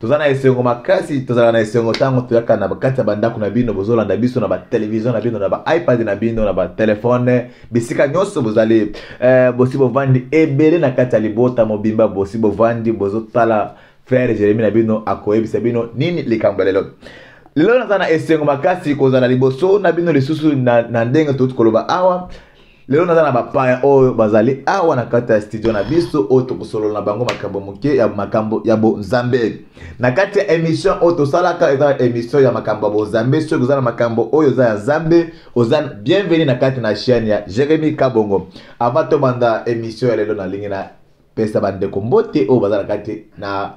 toza na esengo makasi tozalaka na esengo ntango toyaka na kati ya bandako na bino bozolanda biso na batelevizio na bino na baipad na bino na batelefone bisika nyonso bozali eh, bosi bovandi ebele na kati ya libota mobimba bosi bovandi bozotala frere jeremi na bino akoyebisa bino nini likambo ya lelo lelo naza na esengo makasi kozala liboso na bino lisusu na, na ndenge touti koloba awa lelo naza na bapaya oyo bazali awa na kati ya studio na biso oyo tokosolola na bango makambo moke ya makambo ya bonzambe na kati ya emission oyo tosalaka eza emission ya makambo ya bonzambe soki oza na makambo oyo eza ya zambe oza bienveni na kati na chaîne ya jeremi kabongo avant tobanda emission ya lelo nalingi na pesa bandeko mbote oyo baza na kati na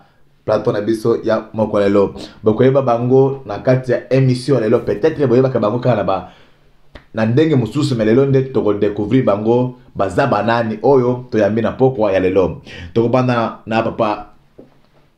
plateau na biso ya moko lelo bokoyeba bango na kati ya émission lelo peut-être boyebaka bango kaka na ba na ndenge mosusu me lelo nde tokodecouvrir bango baza banani oyo toyambi na pokwa ya lelo tokobanda na papa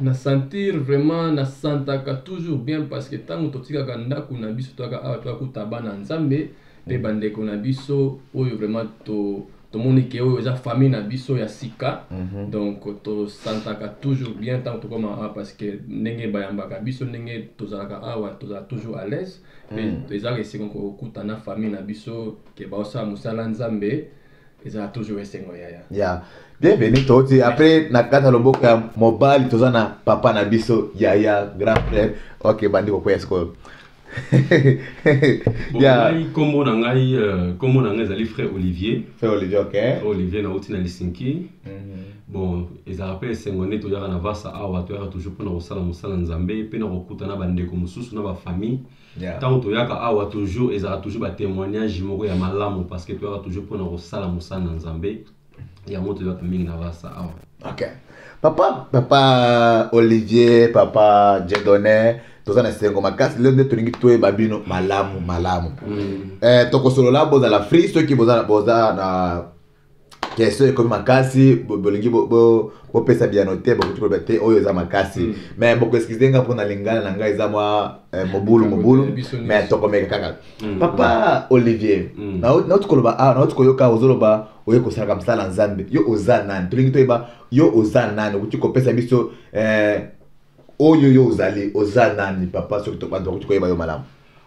na sentir vraiment na santaka toujours bien parce que ntango totikaka ndako na biso toyaka awa toyakuta bana nzambe mpe bandeko na biso oyo vraiment to tomoni ke oyo eza famille na biso ya sika mhm. donc tosantaka toujours bien ntango tokoma awa parce que ndenge bayambaka biso ndenge tozalaka awa tozala toujours à l'aise mpe mhm. ezalaka esengo kokuta na famille na biso ke baosala mosala nzambe ezala toujours esengo yaya ya bienvenu toti après na kata loboko ya mobali toza na papa na biso yaya grand frère ok bandi kokwea sikoyo ngai nkombo na ngai euh, nkombo na ngai ezali frère olivier frère olivier ok frère olivier nauti na lisinki mhm. bon ezalaka mpe esengo nde toyaka na vasa awa toyaka toujours mpo na kosala mosala nzambe mpe na kokutana bandeko mosusu na bafamille Yeah. ntango toyaka awa toujours ezalaka toujours batémoignage moko ya malamu parce que toyaka toujours mpona kosala mosala na nzambe yango toyaka mingi na basa awa ok papa papa olivier papa jedone toza na esengo makasi lelo nde tolingi toyeba bino malamu malamu Mm. eh, tokosolola bozala free soki boza, boza na question ekomi makasi bolingi bopesa biyano te bokoki koloba te oyo eza makasi hmm. mais bokoeskize nga mpona lingana na ngai eza mwa eh, mobulu mobulu mais tokomeka kaka hmm. papa olivier hmm. nauti koloba awa ah, nauti koyoka ozoloba oye kosalaka mosala ya nzambe yo oza nani tolingi toyeba yo oza nani okoki kopesa biso eh, oyo yo ozali oza nani papa soki bato bakoki koyeba yo malamu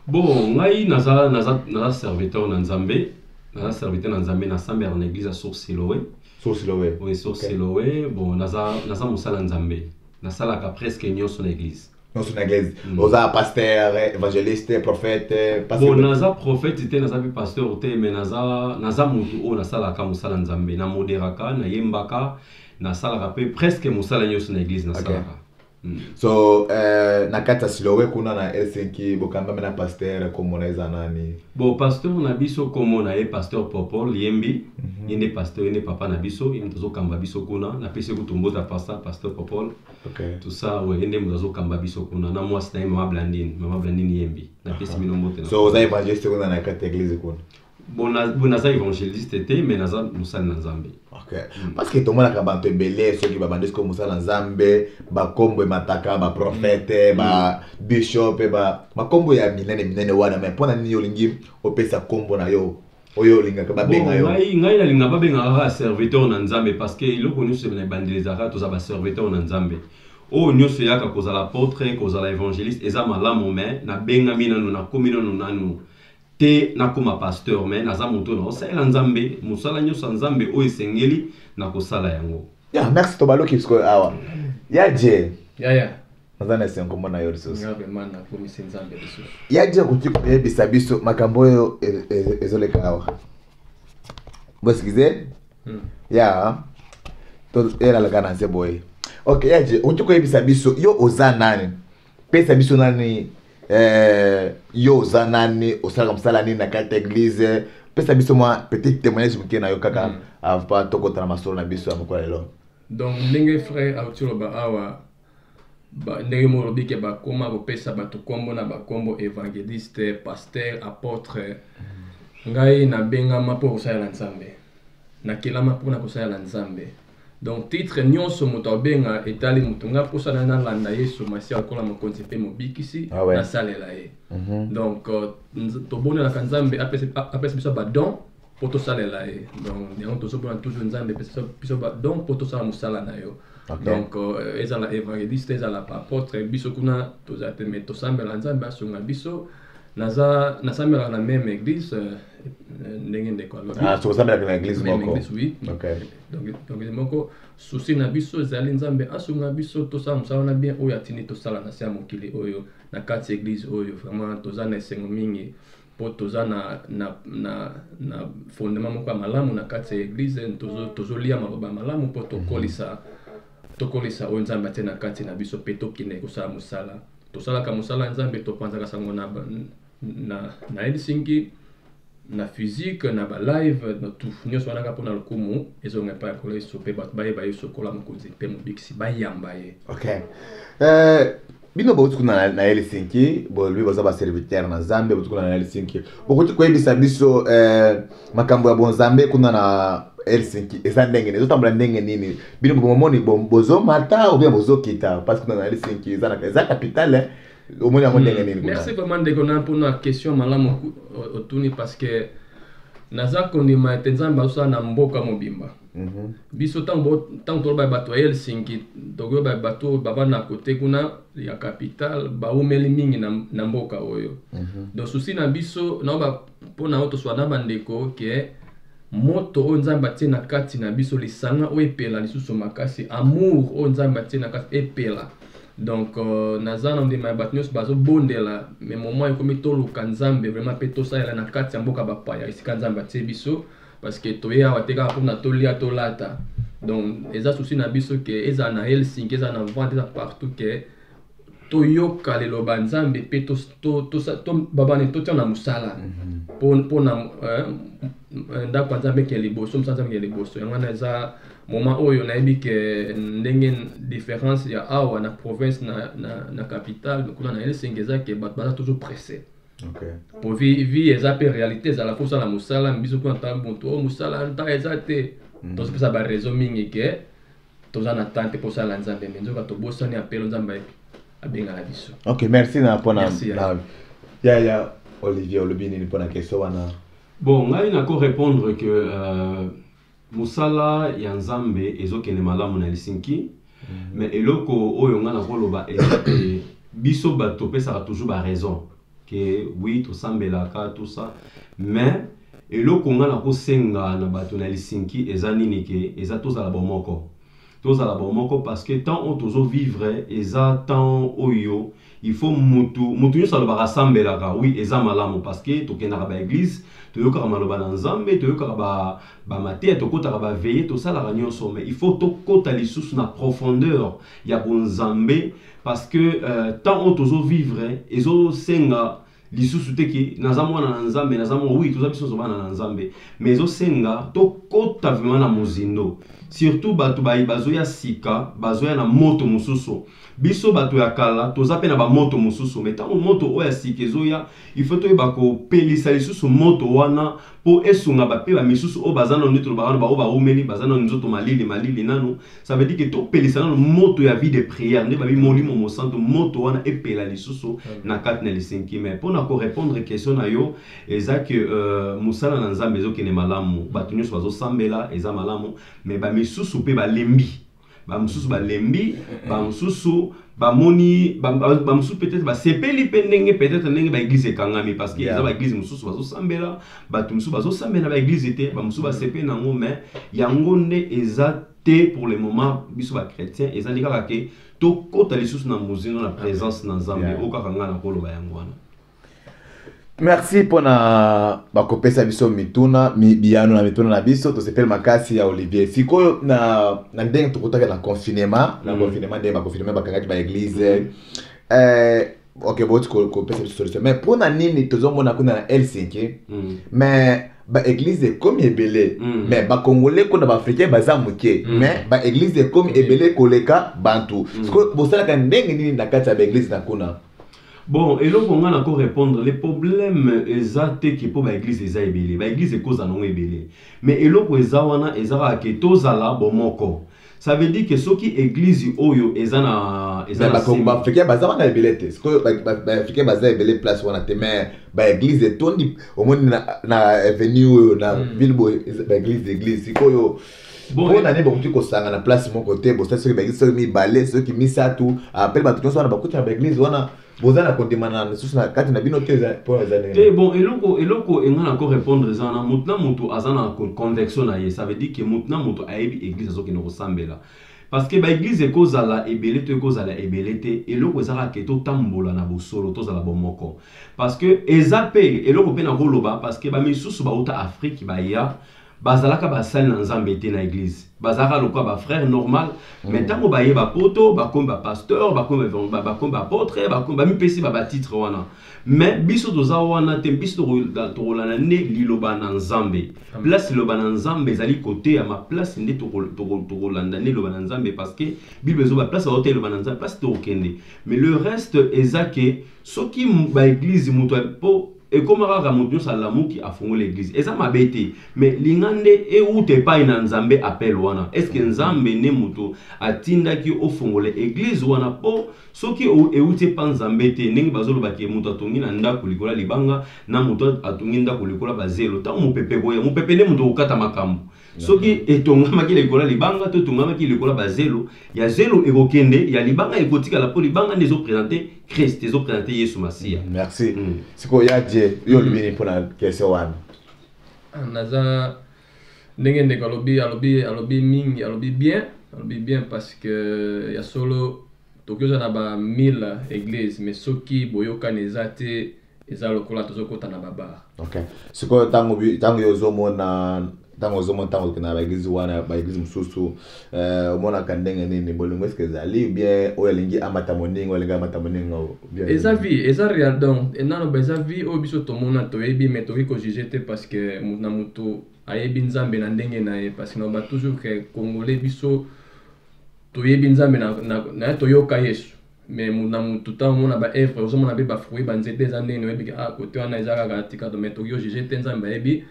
bon ngai naza, naza, naza serviteur na nzambe naza serviteur na nzambe nasambela na église ya source siloe source siloe oui source okay. siloe bon naza, naza mosala nzambe nasalaka presque nyonso na église nyonso na église mm. oza pasteur évangéliste prophète bon naza prophète te naza mpe pasteur te mais naza, naza motu oyo nasalaka mosala nzambe namoderaka nayembaka nasalaka mpe presque mosala nyonso na église nasalaka okay. Mm. so eh, na kati ya silowe kuna na helsinki bokambami na pasteur komona eza nani bon pasteur na biso komona ye pasteur popo liyembi mm -hmm. ye nde pasteur ye nde papa na biso ye moto azokamba biso kuna napesi kutu mbota pasta pasteur popol okay. tusa we ye nde moto azokamba biso kuna na mwasi na ye mama blandine mama blandine yembi napesi bino mbote so oza evangeliste kuna na kati ya eglise kuna bon naza évangéliste te mais naza mosali na nzambe hmm. parce que tomonaka bato ebele soki babandi soki mosala na nzambe bakombo emataka baprofete babishop hmm. hmm. bakombo ya minene minene wana mai mpo na nini olingi opesa kombo na yo oyo olingaka babenga yo ngai ngai nalinga babenga kaka serviteur na nzambe parce que eloko nyonso na ebandeli ezalaka toza baserviteur na nzambe oyo nyonso eyaka kozala portrait kozala évangéliste eza malamu mai nabengami nanu nakomi nanu nanu te nakoma pasteur me naza moto oyo nakosalela nzambe mosala nyonso ya nzambe oyo esengeli na kosala yango ya merci tobaluki sikoyo awa ya je yaya naza na esengo komona yo lisusu ya je okoki koyebisa biso makambo oyo e, e, ezoleka awa boeskize hmm. ya elalaka na nse boye ok ya je okoki koyebisa biso yo oza nani pesa biso nani eh, yo oza nani osalaka mosala nini na kati ya eglise pesa biso mwa petit témoignage moke na yo kaka mm. ava tokota na masolo na biso ya mokolo lelo donc ndenge frère auti loba awa ndenge moko lobi ke bakoma kopesa bato nkombo na bankombo évangéliste pasteur apôtre ngai nabengama mpo kosalela nzambe nakelama mpo na kosalela nzambe donc titre nyonso moto akobenga etali moto ngai mposa na nalanda yesu masiya lokola mokonzi mpe mobikisi ah ouais. nasalela ye mm -hmm. donc euh, tobonelaka nzambe apesa biso badon mpo tosalela ye donc yango tozobona toujours nzambe epesa biso badon mpo tosala mosala na yo okay. donc euh, ezala évangéliste ezala baapotre biso kuna tozala te mai tosambela nzambe asunga biso naza nasambelaka na meme église euh, ndenge ndeko alobi ah, tosambelaka na église moko oui okay. donc moko susi na biso ezali nzambe asunga biso tosala mosala wana bien oyo atindi tosala na se ya mokili oyo na kati eglise oyo vraiment toza na esengo mingi mpo toza na, na, na, na fondement moko ya malamu na kati ya eglise tozolia tozo maloba ya malamu mpo tokolisa tokolisa oyo nzambe atie na kati na biso mpe tokende kosala mosala tosalaka mosala ya nzambe topanzaka sango na na, na Helsinki na physique na ba live na tout nyonso wana kaka mpona lokumu ezonga epai ya nkolo yesu mpe bato bayeba yesu lokola mokonzi mpe mobikisi bayamba ye okay. uh, bino bauti kuna na, na helsinki bolobi boza baservitere na nzambe bauti kuna na helsinki bokoki koyebisa biso uh, makambo ya bonzambe kuna na helsinki eza ndenge nini ezotambola ndenge nini bino bomoni bozomata obia bozokita parce kuna na helsinki eza, eza capitale omoni yango ndenge nini merci vraiment ndeko na mpo na question malamu otuni parce que naza kondima ete nzambe azosala na mboka mobimba mhm. biso ntango toloba bato ya helsinki tokoyoba bato oyo baba na kote kuna ya capital baumeli mingi na, na mboka oyo mm -hmm. donc susi na biso naoba mpo na oyo toswa na bandeko ke moto oyo nzambe atie na kati na biso lisanga oyo epela lisusu makasi amour oyo nzambe atie na kati epela donc euh, naza na ndima ya bato nyonso bazobondela me moment ekomi toluka nzambe vraiment mpe tosalela na kati ya mboka bapaya esika nzambe atie biso parce que toye awa te kaka mpona tolia tolata donc eza souci na biso ke ezala na helsinki ezala na vente eza partout ke toyoka liloba nzambe mpe babane totia na mosala mpona mhm. euh, ndako ya nzambe ke liboso mosala nzambe ke liboso yango wana eza Moment oyo nayebi ke ndenge difference ya awa na province na, na, na capitale kuna na Helsinki eza ke bato baza toujours presse okay. po vie, vie eza mpe réalité ezala mpo osala mosala biso kuna ntango moto oyo oh, mosala nta eza te mm. tozopesa baraison mingi ke toza na temps te mpo osala nzambe me nzoka tobosani apelo nzambe abengaka biso ok merci na mpona ya ya olivier olobi nini mpona question wana bon ngai nako répondre que euh, Mosala ya Nzambe ezokende malamu na Helsinki. Mhm. Mais eloko oyo nga nakoloba eza ke biso bato topesaka toujours ba raison ke oui tosambelaka tout ça mais eloko nga nakosenga na bato na Helsinki eza nini ke eza tozala bomoko tozala bomoko parce que temps oyo tozo vivre eza temps oyo il faut mutu mutu nyonso alobaka asambelaka oui eza malamu parce que tokendaka ba église toyokaka maloba na nzambe toyokaka ba, ba mateya tokotaka ba veye tosalaka nyonso mais il faut tokota lisusu na profondeur ya bonzambe parce que euh, temps oyo tozo vivre ezosenga lisusu te ke naza mwana na nzambe naza mwana oui toza biso nyonso bana na nzambe mais ezosenga tokota vraimen na mozindo surtout bato baye bazoya sika bazoya na moto mosusu biso bato ya kala toza mpe na bamoto mosusu mai ntango moto oyo ya sika ezoya ifo toyeba kopelisa lisusu moto wana po esunga ba pe ba misusu oyo baza nanu nde tolobaka nanu baoyo bawumeli baza nanu nzoto malili malili nanu ça veut dire que topelisa nanu moto ya vie de prière nde babi molimo mosantu moto wana epela lisusu na kati na lisenki mais mpo na korepondre question na yo eza que euh, mosala na nzambe ezokende malamu bato nyonso bazosambela eza malamu mais bamisusu mpe balembi bamosusu balembi bamosusu bamoni bamosusu peut-être basepeli mpe ndenge peut-être ndenge baeglize ekangami parce que eza baeglize mosusu bazosambela bato mosusu bazosambela baeglize te bamosusu basepeli na yango mais yango nde eza te pour le moment biso bachrétien ezali kaka ke tokɔta lisusu na mozindo na présence na nzambe oyo kaka ngai nakoloba yango wana merci mpona bakopesa biso mituna biyano na mituna na biso tosepeli makasi ya olivier sikoyo na, na ndenge tokutaki na confinement na mm. confinement ndenge baconfinement bakangaki baeglise mm. eh, ok boti kopesa biso solution mais mpona nini tozomona kuna na helsinki mm. mais baeglize ekomi ebele mm. mais bakongole kuna baafricain baza moke mm. mais baeglize ekomi ebele koleka bantu mm. sikoyo bosalaka ndenge nini na kati ya baeglize na kuna bon eloko ngai nako répondre le problème eza te ke mpo baeglize eza ebele baeglize ekozala nango ebele mais eloko eza wana eza kaka ke tozala bomoko ça veut dire ke soki eglize oyo eza na eza na sima- baafricain baza wana ebele te sikoyo baafricain baza ebele place wana te mais baeglize etondi omoni na, na avenue oyo na Mm. ville boye eza- baeglize eglize sikoyo mpo na nini bokoki kosanga na place moko te bosali soki baeglise soki mibale soki misato apele bato nyonso wana bakuti na baeglise wana boza na kondimana lisusu na kati na bino te mpo eza ndenge te bon eloko eloko enga na ko répondre eza wana moto na moto aza na convection na ye ça veut dire que moto na moto ayebi église azokende kosambela parce que baeglise ekozala ebele to ekozala ebele te eloko eza kaka ke totambola na bosolo tozala bomoko parce que eza mpe eloko mpe nakoloba parce que bamisusu bauta afrique baya bazalaka basali na nzambe te na eglise bazalaka lokola bafrère normal mm. mais ntango baye bapoto bakomi bapasteur bakomi baapotre bakomi bamipesi babatitre wana mais biso toza wana te biso tokolanda nde liloba na nzambe place liloba na nzambe ezali koteyama place nde tokolanda nde liloba na nzambe parce que bible ezoba place aoteya liloba na nzambe place tokokende mais le reste eza ke soki baeglise moto po ekoma kaka moto nyonso alamuki afungoli eglise eza mabe te me linga nde euta epai na nzambe apele wana eske nzambe nde moto atindaki ofongola eglise wana mpo soki euti epa nzambe te ndenge bazolobaki moto atongi na ndako likolo ya libanga na moto atongi ndako likolo ya bazelo ntango mopepe koya mopepe nde moto okokata makambo soki etongamaki likolo ya libanga to etongamaki likolo ya bazelo ya zelo ekokende ya libanga ekotikala mpo libanga nde ezopresente krist ezopresente yesu masiya mm, merci mm. sikoyo ya je yo olobi nini mpo na kese wana ah, naza ndenge ndeko alobi alobi alobi mingi alobi bien alobi bien parce que ya solo toki oza na ba 1000 église mais soki boyokani eza te eza lokola tozokota na babar okay. sikoyo ntango ntango yo ozomona ntango ozomona ntango okenda na baeglize wana baeglize mosusu eh, omonaka ndenge nini bolingo eske ezali bien oyo alingi amata moninga olingi amata moninga eza vie eza real donc enano eza vie oyo biso tomona toyebi mais tokoki kojuge te parce que na motu ayebi nzambe na ndenge na ye parce que naloba toujours ke congolais biso toyebi nzambe na, na, na toyoka yesu mais na mutu ntango omona ba evre ozomona mpe ba fruit banzete eza ndenge oyebi ah kote wana eza kaka tika to mais tokoki ojuge te nzambe ayebi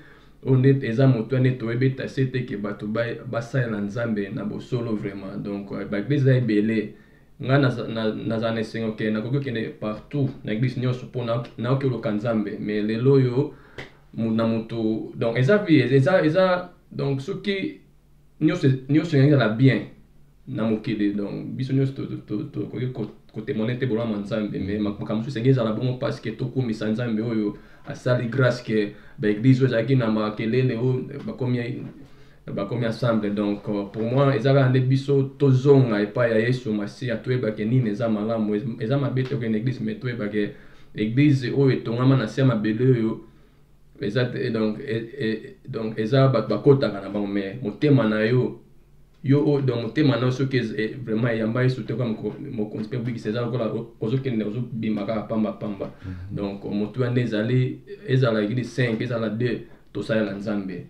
oyo nde eza moto wana nde toyebi tase te ke bato basalela nzambe na bosolo vraiment donc euh, baeglise eza ebele ngai nazala na esengo ke nakoki okende partout na eglise nyonso mpo nayoki oluka nzambe mais lelo oyo na moto donc eza vie eza eza donc soki nyonso nyonso yangi na bien na mokili donc biso nyonso tokoki kotemone te bolama nzambe me makambo mosusu esengeli ezala bongo parce que tokumisa nzambe oyo asali grâce que baeglise oyo ezalaki na makelele oyo bakomi bakomi ensemble donc euh, pour moi eza kaka nde biso tozonga epai ya yesu masiya toyebake nini eza malamu eza mabe tokende eglise me toyebake eglise oyo etongama na se ya mabele oyo eza te donc e, e, donc eza bato bakotaka na bango mais motema na yo yo oyo donc motema na yo soki e, vraiment eyamba yesu te kaka mokonzi mpe obikisa eza lokola ozokende ozobima kaka pamba pamba mhm. donc motuya nde ezali ezala eglise 5 ezala 2 tosalela nzambe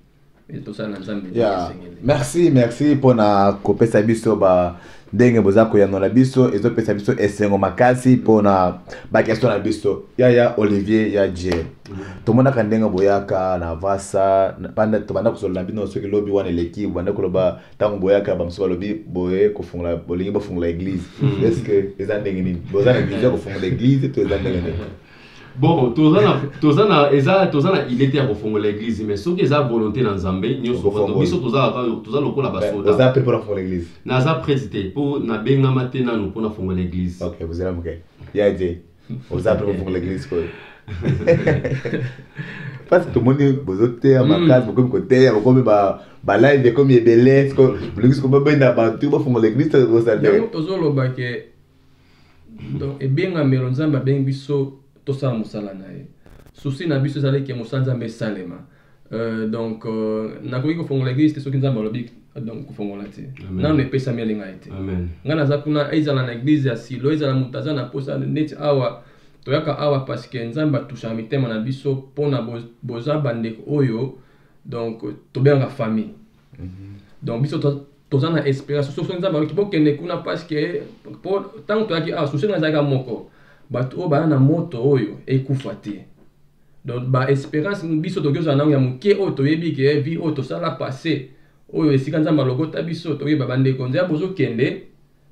yeah. merci merci mpona kopesa biso ba ndenge boza koyanola biso ezopesa biso esengo makasi mpona bakestio na biso yaya olivier ya je mm. tomonaka ndenge boyaka na vasa tobanda kosolola bino soki lobi wana eleki bobanda koloba ntango boyaka bamosusu balobi boye kofungola bolingi bofungola eglise mm. estce eza ndenge nini boza na vision kofungola eglise to eza ndenge nini bon toza na toza na eza toza na idée te ya kofongola église mais soki eza volonté na nzambe nyonso Okofongola. bato biso toza kaka- toza lokola Mais basoda oza mpe mpona fongola église naza prete te mpo nabengama te nanu mpo nafongola église ok bozela moke ya je oza mpe kofongola église sikoyo parce que tomoni bozoteya Mm. makasi bokomi koteya bokomi ba- balive ekomi ebele sikoyo bolingi sikoyo babenda bato bafongola église tozosala yango tozoloba ke donc ebengamelo nzambe abengi biso tosala mosala na ye susi na biso ezali ke mosala nzambe esalema Euh, donc euh, nakoki kofongola eglise te soki nzambe alobi euh, donc kofongola te Amen. nano epesami elinga ye te Amen. ngai naza kuna ezala na eglise ya silo ezala moto aza na posa neti awa toyaka awa parce que nzambe atusaka mitema na biso mpona bo- boza bandeko oyo donc tobengaka famille donc biso to- toza na esperance soso nzambe ayoki bokende kuna parceke po ntango toyaki awa susi ngai ezalaka moko bato oyo baya na moto oyo ekufa te donc ba esperance biso toki ozala nango ya moke oyo toyebi ke vie oyo tosala passe oyo esika nzambe alokota biso toyeba bandeko nzambe ozokende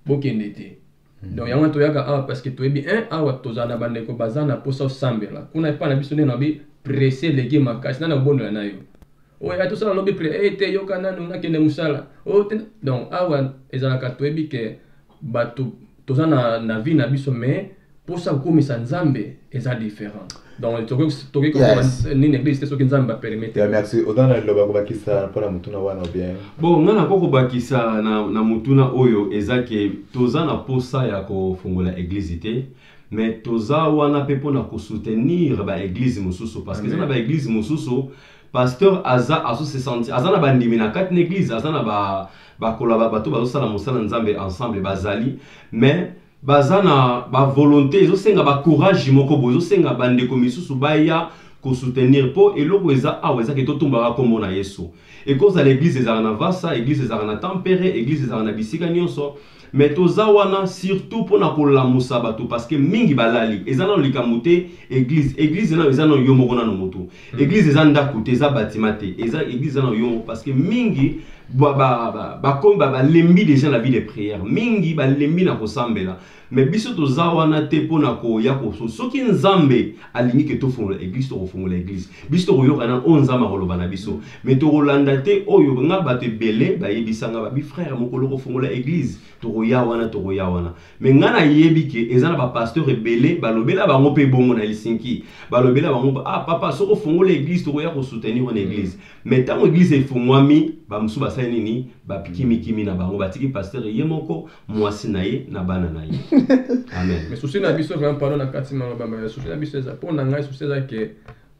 bokende te donc yango toyaka awa parce que toyebi un awa tozala na bandeko baza na mposa osambela kuna epai na biso nde nabi presse eleki makasi nani akobondela na yo oyo oh, tosala lobi pre e eh, te yoka nanu nakende mosala oh, donc awa ezalaka toyebi ke bato toza na, na vie na biso mais mposa kokomisa nzambe eza différent donc tokoki kokoma nini eglise te soki nzambe bapermete merci oza na liloba kobakisa mpo na motuna wana bien bon nga nako kobakisa na, na motuna oyo eza ke toza na posa ya kofungola eglise te me toza wana mpe mpo na kosoutenir baeglise mosusu parce que eza na baeglise mosusu pasteur aza azosesanti aza na bandimi na kati na eglise aza na bakola ba, bato bazosala mosala nzambe ensemble bazali mais baza na ba volonté ezosenga ba courage moko boye ezosenga bandeko misusu baya kosoutenir mpo eloko eza awa ezaki totumbaka nkombo na yesu ekozala eglize ezalaka na vasa eglize ezalaka na tempere eglize ezalaka na bisika nyonso me toza wana surtout mpo na kolamusa bato parceke mingi balali eza nano likambo te eglize eglize nano eza nano yo moko nano motu Hmm. Église eza ndako te, eza bâtiment te. Eza église eza na yongo parce que mingi ba ba ba ba comme ba ba lembi déjà la vie de prière. Mingi ba lembi na kosambela. Mais biso toza wana te pona ko ya ko so. Soki Nzambe alingi ke to fongola église to fongola église. Biso to koyoka na o Nzambe akoloba na biso. Mais to kolanda te oyo nga bato ebele bayebisa nga ba bi frère mokolo ko fongola église. To koya wana to koya wana. me ngai nayebi ke eza na bapasteur ebele balobela bango mpe bongo na helsinki balobela bango ah papa soki ofongola eglise tokoya kosoutenir ona eglise me mm. ntango eglise efungwami bamosusu basali nini bapikimikimi na bango batiki pasteur ye moko mwasi na ye na bana na ye amen susi na biso vraimen pardon na kati maloba ma susi na biso eza mpo na ngai susi eza ke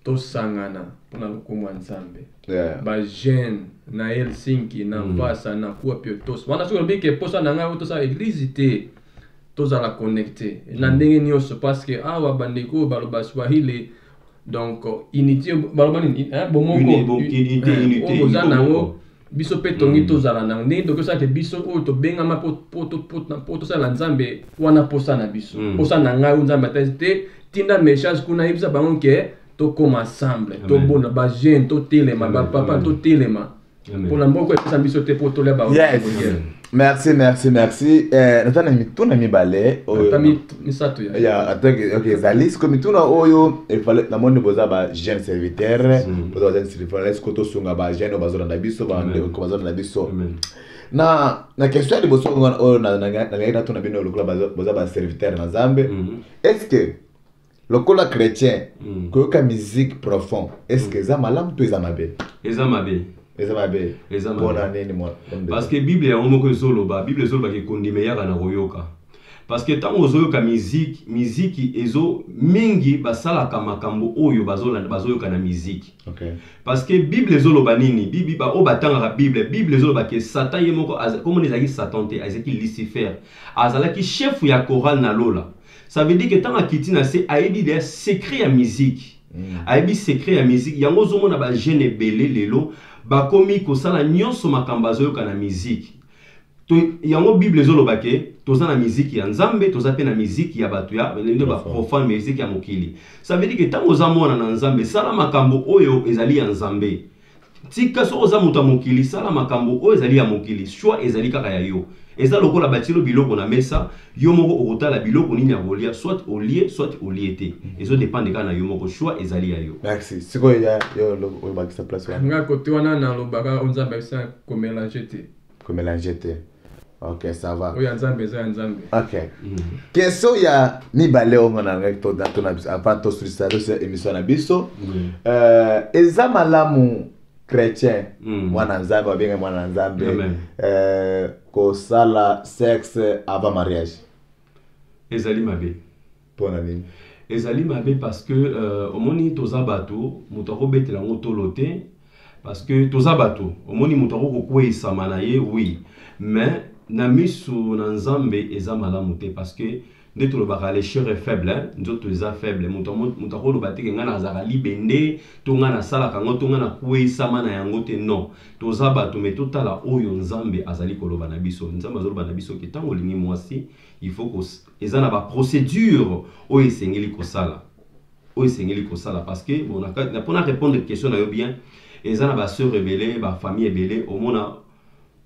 tosangana mpo na lokumu ya nzambe yeah. bajeune na helsinki na mm. mpasa mm. na kuwa pio tos wana soki olobiki mposa na ngai tosala eglize te tozala connecte na mm. ndenge nyonso parce que awa bandeko oyo baloba swahili donc unité baloba nini eh, bomoko oyo eh, boza nango biso mpe tongi mm. tozala nango ndenge toki osala te biso oyo tobengama mpo tosala na nzambe wana mposa na biso mm. mposa na ngai oyo nzambe atasi te tinda message kuna yebisa bango ke tokoma ensemble tobona bajeune totelema bapapa totelema mpona mboka epesa biso te mpo tolia bango merci merci merci eh, naza na mituna mibale oyo Ata mi- misato ya ya atake ok ezali siko mituna oyo efale namoni boza ba jeune serviteur Mm. boza ba jeune serviteur esiko tosunga ba jeune oyo bazolanda biso ba Amen. ndeko bazolanda biso Amen. na na question ya liboso oyo wana- oyo na- na- nalingaki natuna bino lokola baza- boza ba serviteur na nzambe Mhm. est ce que lokola chrétien mm. koyoka musique profond est ce que eza malamu to eza mabe eza mabe eza mabe eza mpona nini parce que bible yango moko ezoloba bible ezoloba ke kondima eyaka na koyoka parce que ntango ozoyoka miziki miziki ezo mingi basalaka makambo oyo bazoyoka na miziki okay. parce que bible ezoloba nini bibi baoyo batangaka bible bible ezoloba ke satan ye moko komona ezalaki satan te ezalaki lucifer azalaki chef ya chorale na lola ça veut dire que ntango akiti na se ayebi deya secret ya miziki mm. ayebi secret ya miziki yango ozomona bajeune ebele lelo bakomi kosala nyonso makambo azoyoka na miziki to, yango bible ezoloba ke toza na miziki ya nzambe toza mpe na miziki ya bato ya nde baprofane miziki ya mokili ça veut dire ke ntango oza mwana na nzambe sala makambo oyo ezali ya nzambe tika soki oza moto ya mokili sala makambo oyo ezali ya mokili swa ezali kaka ya yo eza lokola batilo biloko na mesa yo moko okotala biloko nini ya kolia soit olie soit olie te ezo depende kaka na yo moko swa ezali ya yo merci sikoyo ya yo olobakisa place wana nga kote wana nalobaka o nzambe abisa komelange te ko mélanger te ok ça va oyo ya nzambe eza ya nzambe ok question ya mibale oyo nga nalingaki tona biso avant tosilisa tosa émission na biso euh, eza malamu chrétien mm. mwana nzambe babenga mwana nzambe euh, kosala sexe avant mariage ezali mabe mpo na nini ezali mabe parce que euh, omoni toza bato moto akobetela yango tolo te parce que toza bato omoni moto akokokweyisama na ye oui mais na miso na nzambe eza malamu te parce que nde tolobaka le chere faible hein? nzoto eza faible moto akoloba teke ngai nazalaka libende to ngai nasalaka yango to ngai nakweyisama na yango te non toza bato me totala oyo nzambe azali koloba na biso nzambe azoloba na biso ke ntango olingi mwasi il faut eza na ba procédure oyo esengeli kosala oyo esengeli kosala parce que bon, mpo na répondre question na yo bien eza na basœur ebele bafamille ebele omona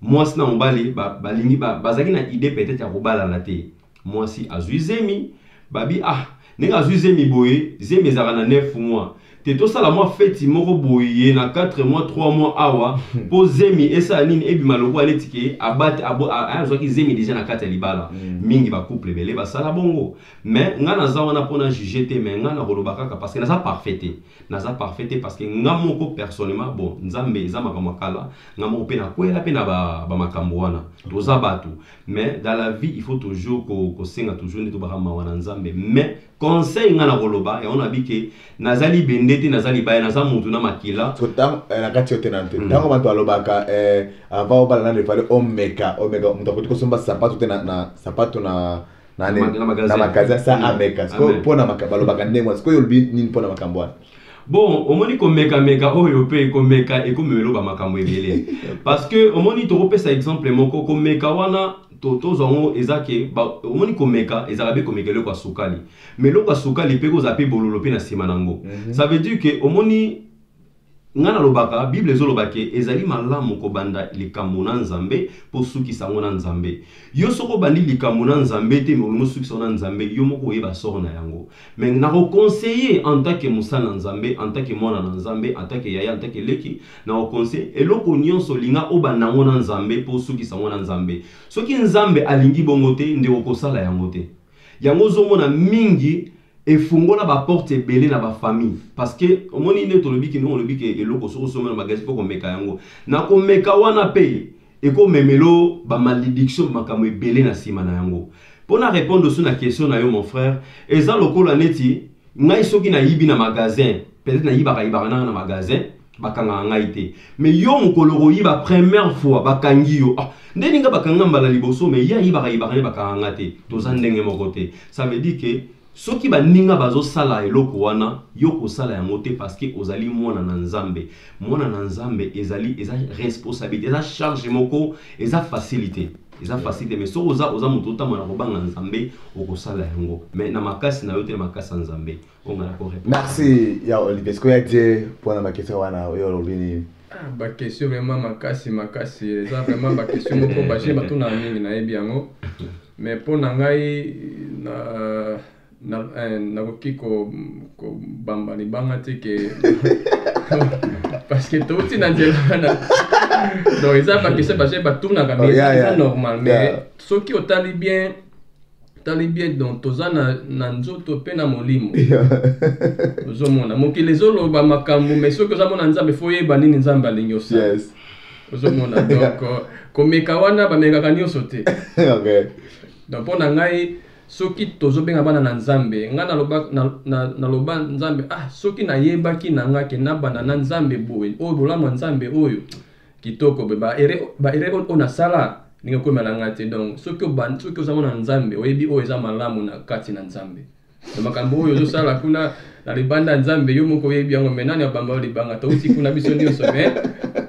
mwasi na mobali balingi ba, ba, bazalaki na idée peut-être ya kobalana te mwasi azwi zemi babi ah ndenge azwi zemi boye zemi ezalaka na 9 mois te tosala mwa feti moko boye na 4 mois 3 mois awa mpo hmm. zemi esala nini ebima lokola neti ke abate azwaki zemi deja na kati ya libala hmm. mingi bacouple ebele basala bongo mais ngai naza wana mpo na juge te mais ngai nakoloba kaka parce que naza parfait te naza parfait te parce que ngai moko personnellement bon nzambe eza makambo ya kala ngai moko mpe nakwela mpe na bamakambo ba wana toza bato mais dans la vie il faut toujours kosenga ko toujours nde tobaka mawa na nzambe mais conseil nga na koloba yango na bike naza libende te naza libaya naza mutu na makila eh, na kati yo te na nte mm. ntango bato balobaka eh, avant obala nano efale omeka omeka moto akoki kosomba sapato te na sapato na na magasin sa mm. ameka sikoyo mpo na balobaka ndenge wana sikoyo olobi nini mpo na makambo wana bon omoni komekameka oyo mpe komeka ekomemelo bamakambo ebele parce que omoni tokopesa exemple moko komeka wana to tozwa yango eza ke ba- omoni komeka ezalaka mpe komeka eloko ya sukali ma eloko ya sukali mpe kozala mpe bololo mpe na nsima na yango Mhm. ça veut dire ke omoni ngai nalobaka bible ezoloba ke ezali malamu kobanda likambo na nzambe mpo osukisa yango na nzambe yo soki obandi likambo na nzambe te me olingi osukisa yango na nzambe yo moko oyeba soro na yango Mais nako conseiller en tant que mosali na Nzambe, en tant que mwana na Nzambe, en tant que yaya, en tant que leki, nako conseiller eloko nionso linga obanda yango na Nzambe po osukisa yango na Nzambe. Soki Nzambe alingi bongo te, ndeko kosala yango te. Yango ozomona mingi efungola ba porte ebele na ba famille parce que omoni nde tolobi kino olobi ke eloko soki osomba na magasin faut komeka yango na komeka wana pe ekomemela yo ba malediction makambo ebele na nsima na yango mpo na répondre osu na question na yo mon frère eza lokola neti ngai soki nayibi na magasin peut-être nayibaka yibaka nanga na magasin bakangaka ngai te mais yo mokolo okoyiba première fois bakangi yo ah, nde ninga bakanga mbala liboso mais ye ayibaka yibaka nde bakanga nga te toza ndenge moko te ça veut dire que Soki baninga bazosala eloko wana, yo kosala yango te parce que ozali mwana na Nzambe. Mwana na Nzambe ezali eza responsabilite, eza charge moko, eza facilite. Eza facilite mais soki oza oza moto otamba na kobanga Nzambe, okosala yango. Mais na makasi na yo te na makasi ya Nzambe. Onga na ko Merci ya Olivier. Sikoyo ya die pona ba question wana oyo olobini. Ah, ba question vraiment makasi makasi eza vraiment ba question moko baje batuna mingi nayebi yango mais mpo na ngai na na eh, nakoki kobamba libanga te ke parce que touti na nzela wana donc eza bakese baje batunaka mais oh, eza normal mais soki otali bien tali bie donc toza na, na nzoto mpe na molimo ozomona mokili ezoloba makambo mai soki ozamona nzambe fo oyeba nini nzambe alingi osala yes. ozomona donc euh, komeka wana bamekaka nyonso te okay. donc mpo na ngai soki tozobenga bana na nzambe ngai naloba, na, na, naloba nzambe ah soki nayebaki na ngai ke nabanda na nzambe boye oyo bolamu ya nzambe oyo kitoko pe ba erreur ba erreur oyo na sala ndenge okomela na ngai te donc soki obandi soki ozango na nzambe oyebi oyo eza malamu na kati na nzambe na makambo oyo ozosala kuna na libanda ya nzambe yo moko oyebi yango me nani abamba yo libanga touti kuna biso nyonso me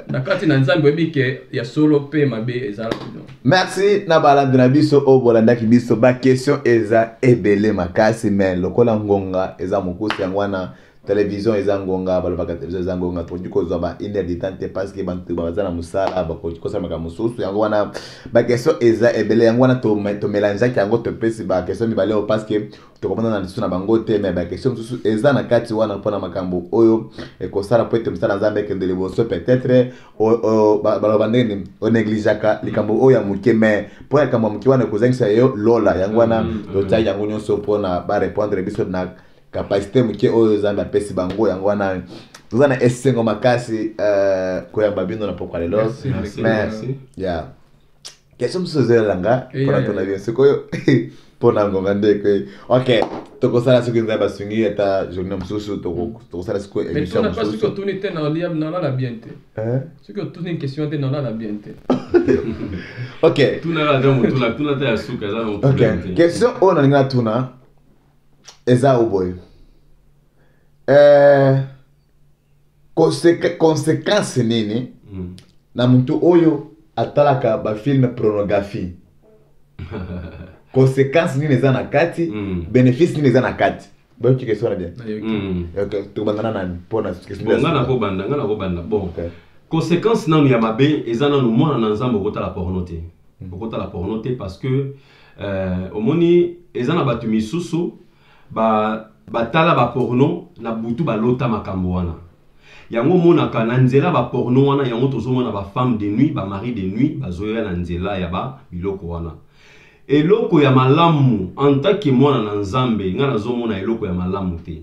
na kati na nzambe oyebi ke ya solo mpe mabe eza kuno merci na balandi na biso oyo bolandaki biso baquestion eza ebele makasi me lokola ngonga eza mokuse yango wana Television eza ngonga balobaka television eza ngonga tokoki kozwa ba une heure de temps te parce que bantu baza na mosala bakoki kosala makambo mosusu yango wana bakestion eza ebele yango wana tomelangeaki yango topesi bakestion mibale oyo parce que tokomonana lisusu na bango te me bakestion mosusu eza na kati wana mpona makambo oyo ekosala mpo ete mosala nzambe ekende liboso peut-être baloba ndenge nini onegligeaka likambo oyo ya moke me mpo ya likambo ya moke wana ekozangisa yo lola yango wana mm, mm. totiaki yango nyonso mpona barepondre biso na kapasite moke oyo zambe apesi bango yango wana toza na esengo makasi euh, koyamba bino na pokwa lelo ya question mosusu ezolela nga mpona tona bino sikoyo mpona ngonga ndeko ok tokosala soki nzambe basungi ata journée mosusu tokosala sikoyo émission mosusu soki otuni te nalala bien te soki otuni question te nalala bien te ok question oyo nalingi natuna eza yo boye eh, conséquence nini mm. na motu oyo atalaka bafilme pornographie conséquence nini eza na kati mm. bénéfice nini eza na kati bayoki question na bien mm. tobanda na nani mpona nga nakobanda nga nakobanda bon conséquence nanu ya mabe eza nanu mwana na nzambe okotala porno te mm. okotala porno te parce que Euh, omoni eza na bato misusu ba batala baporno na butu balota makambo wana yango omonaka na nzela baporno wana yango tozomona bafemme de nuit bamari de nuit bazoya na nzela ya ba biloko wana eloko ya malamu entake mwana na nzambe ngai nazomona eloko ya malamu te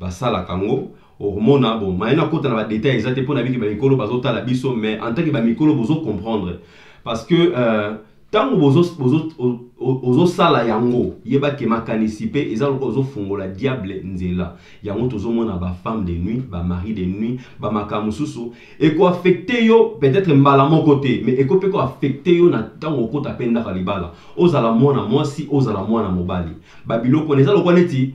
basalaka yango okomona bon maye nakota na badetail eza te mpo nayebi ke bamikolo bazotala biso mais en tant ke bamikolo bozo comprendre parce que euh, ntango ozosala yango yeba ke makanisi mpe eza lokola ozofungola diable nzela yango tozomona bafemme de nuit bamari de nuit bamakambo mosusu ekoaffecte yo peut-être mbala moko te mais eko mpe koaffecte yo na ntango okota mpe ndaka libala ozala mwana mwasi ozala mwana mobali babiloko wana eza lokola neti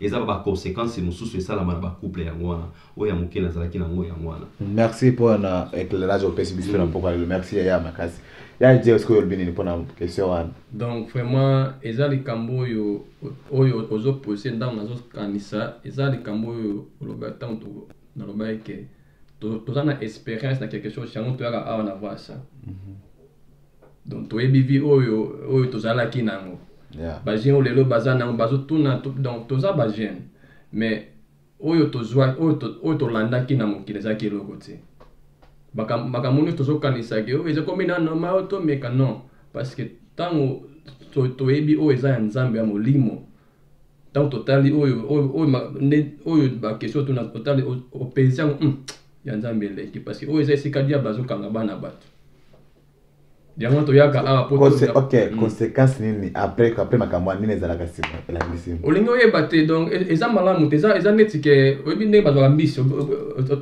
eza ba ba consequences mosusu esalama na ba couple yango wana oyo ya moke nazalaki na yango yango wana merci mpo na éclairage opesi biso na mpoka lelo merci yaya makasi ya je sikoyo olobi nini mpo na question wana donc vraiment eza likambo oyo oyo ozopose ntango nazokanisa eza likambo oyo oloba ntango nalobaki ke toza na expérience na quelque chose yango toyaka awa na voice mhm. donc toyebi vie oyo oyo tozalaki nango yeah. bajeune oyo lelo baza nango bazotuna donc toza bajeune mais oyo tozwa oyo tolandaki na mokili ezalaki eloko te makambo nyonso tozokanisaki oyo ezokomi na normal oyo tomeka non parce que ntango toyebi oyo eza ya nzambe ya molimo ntango totali oyo oyo oyo ma- nde- oyo bakestion otuna otali o- opensi yango "Hmm, ya nzambe eleki parce que oyo eza esika diable azokanga bana bato yango toyaka awa po Conse- tolinga- ok Mm. conséquence nini après après makambo wana nini ezalaka nsima elandi nsima olingi oyeba te donc e- eza malamu te eza eza neti ke oyebi ndenge bazwaka mbisi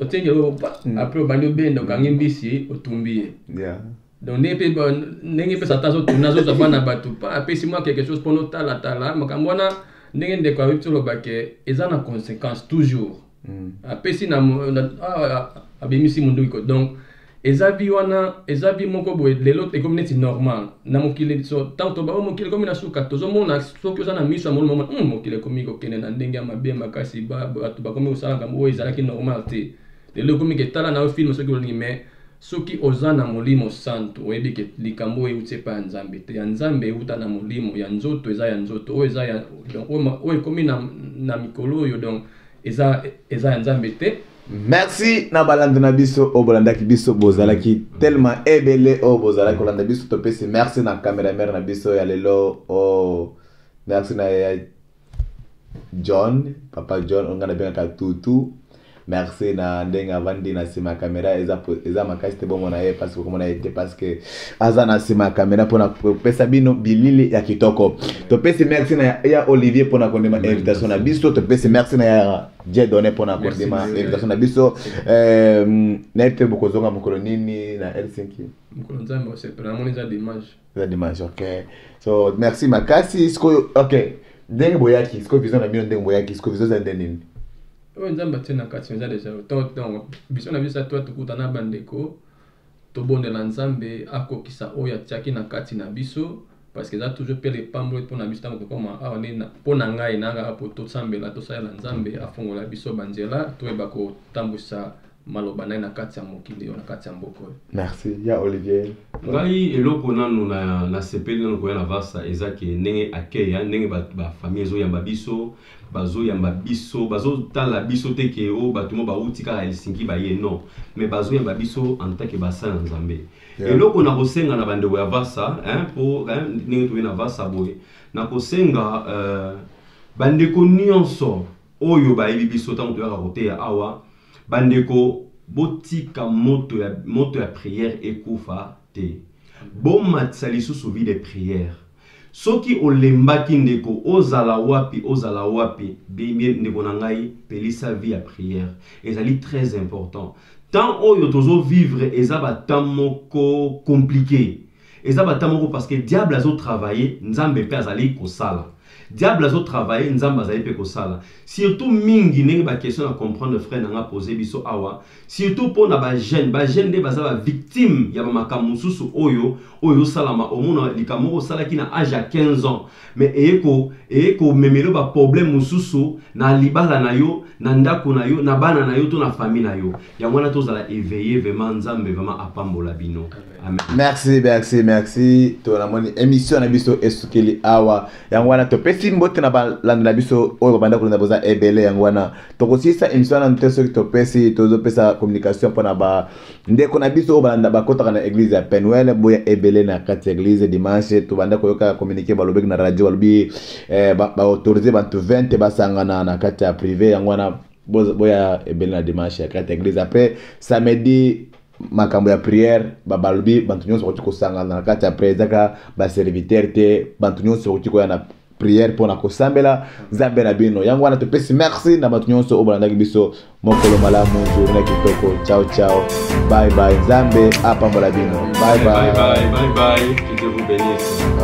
otiengelo Mm. apres obandi obenda okangi mbisi otumbi ye Yeah. donc ndenge mpe ndenge mpe satan azotuna azozwa bana bato mpa apesi mwa quelque chose mpo notalatala makambo wana ndenge ndeko ayebi toloba ke eza na conséquence toujours mm. apesi na abimisi monduki ko donc eza bi wana eza bi moko boye lelo ekomi neti normal na mokili so ntango toba oyo mokili ekomi na suka tozomona soki oza na miso ya molimo mm, mokili ekomi kokende na ndenge ya mabe makasi bato bakomi kosala makambo oyo ezalaki normal te lelo ekomi ketala na yo filme soki olingi mais Soki oza na molimo santu oyebi ke likambo oyo ewuti epai ya Nzambe te, ya Nzambe ewuta na molimo, ya nzoto eza ya nzoto, oyo eza ya donc oyo ekomi na, na mikolo oyo donc eza eza ya Nzambe te. Merci na balandi na biso oyo bolandaki biso bozalaki mm. tellement ebele oyo bozalaki kolanda biso topesi merci na cameraman na biso ya lelo oyo oh, merci na John, papa John, on gana benga tutu. Merci na ndenge avandi na sima camera eza eza makasi te bomo na ye parce que komona ete parce que aza na sima camera pona pesa bino bilili ya kitoko. To pesi merci na ya Olivier pona kondima invitation na biso, to pesi merci na ya Dieu donné pona kondima invitation na biso. Euh na ete bokozonga mokolo nini na Helsinki? Mokolo nzambe osepela na moni eza dimanche. eza dimanche ok so merci makasi sikoyo ok ndenge boyaki sikoyo vision na bino ndenge boyaki sikoyo vision eza nde nini oyo nzambe atie na kati eza deja donc biso na biso atoa tokuta na bandeko tobondela nzambe akokisa oyo atiaki na kati na biso parce que eza toujours mpe lepamboli mpo na biso ntango tokoma awa nde mpo na ngai na kaka mpo tosambela tosalela nzambe afongola biso banzela toyeba kotambwisa maloba na ye na kati ya mokili oyo na kati ya mboka oyo merci ya olivier ngai eloko nanu na nasepeli nanu koya na vasa eza ke ndenge accueil ya ndenge bafamille ba ezoyamba biso bazoyamba biso bazotala biso te ke o oh, bato mo bauti kaka helsinki baye non mais bazoyamba biso en tant ke basala na nzambe yeah. eloko na kosenga na bandeko ya vasa hein, po hein, ndenge toye na vasa boye na kosenga euh, bandeko nyonso Oyo bayebi biso tango toyaka koteya awa, ba ndeko botika moto ya moto ya prière ekufa te. Bomatisa lisusu vie de prière. Soki olembaki ndeko, ozala wapi, ozala wapi, bebie ndeko na ngai, pelisa vie ya prière. Ezali très important. Temps oyo tozo vivre eza ba temps moko complique. Eza ba temps moko parce que diable azo travailler, Nzambe pe azali kosala. Diable azo travailler nzambe azali pe kosala surtout mingi ndenge ba question na comprendre frère na nga poser biso awa surtout po na ba jeune ba jeune nde baza ba victime ya ba makambo mosusu oyo oyo osalama omona likambo moko osalaki na age ya 15 ans mais eye ko eye ko memelo ba problème mosusu na libala na yo na ndako na yo na bana na yo to na famille na yo yango wana tozala eveiller vraiment nzambe vraiment apambola bino merci merci merci to namoni émission na biso esukeli awa yango wana topesi mbote na balandi na biso oyo babanda kolanda boza ebele yango wana tokosilisa émission wana te soki topesi tozopesa communication mpo na bandeko na biso oyo balanda bakotaka na église ya penuel boya ebele na kati ya église dimanche tobanda koyoka communiqué balobeki na radio balobi eh, baautorise ba bantu 20 basangana na kati ya privé yango wana boya ebele na dimanche ya kati ya église après samedi makambo ya prière balobi bato nyonso bakoki kosangana na kati ya prière ezaka baserviteur te bato nyonso bakoki koya na prière mpo na kosambela nzambe na bino yango wana topesi merci na bato nyonso oyo balandaki biso mokolo malamu journa kitoko ciao ciao bye bye nzambe apambola bino bye bye, bye, bye, bye, bye.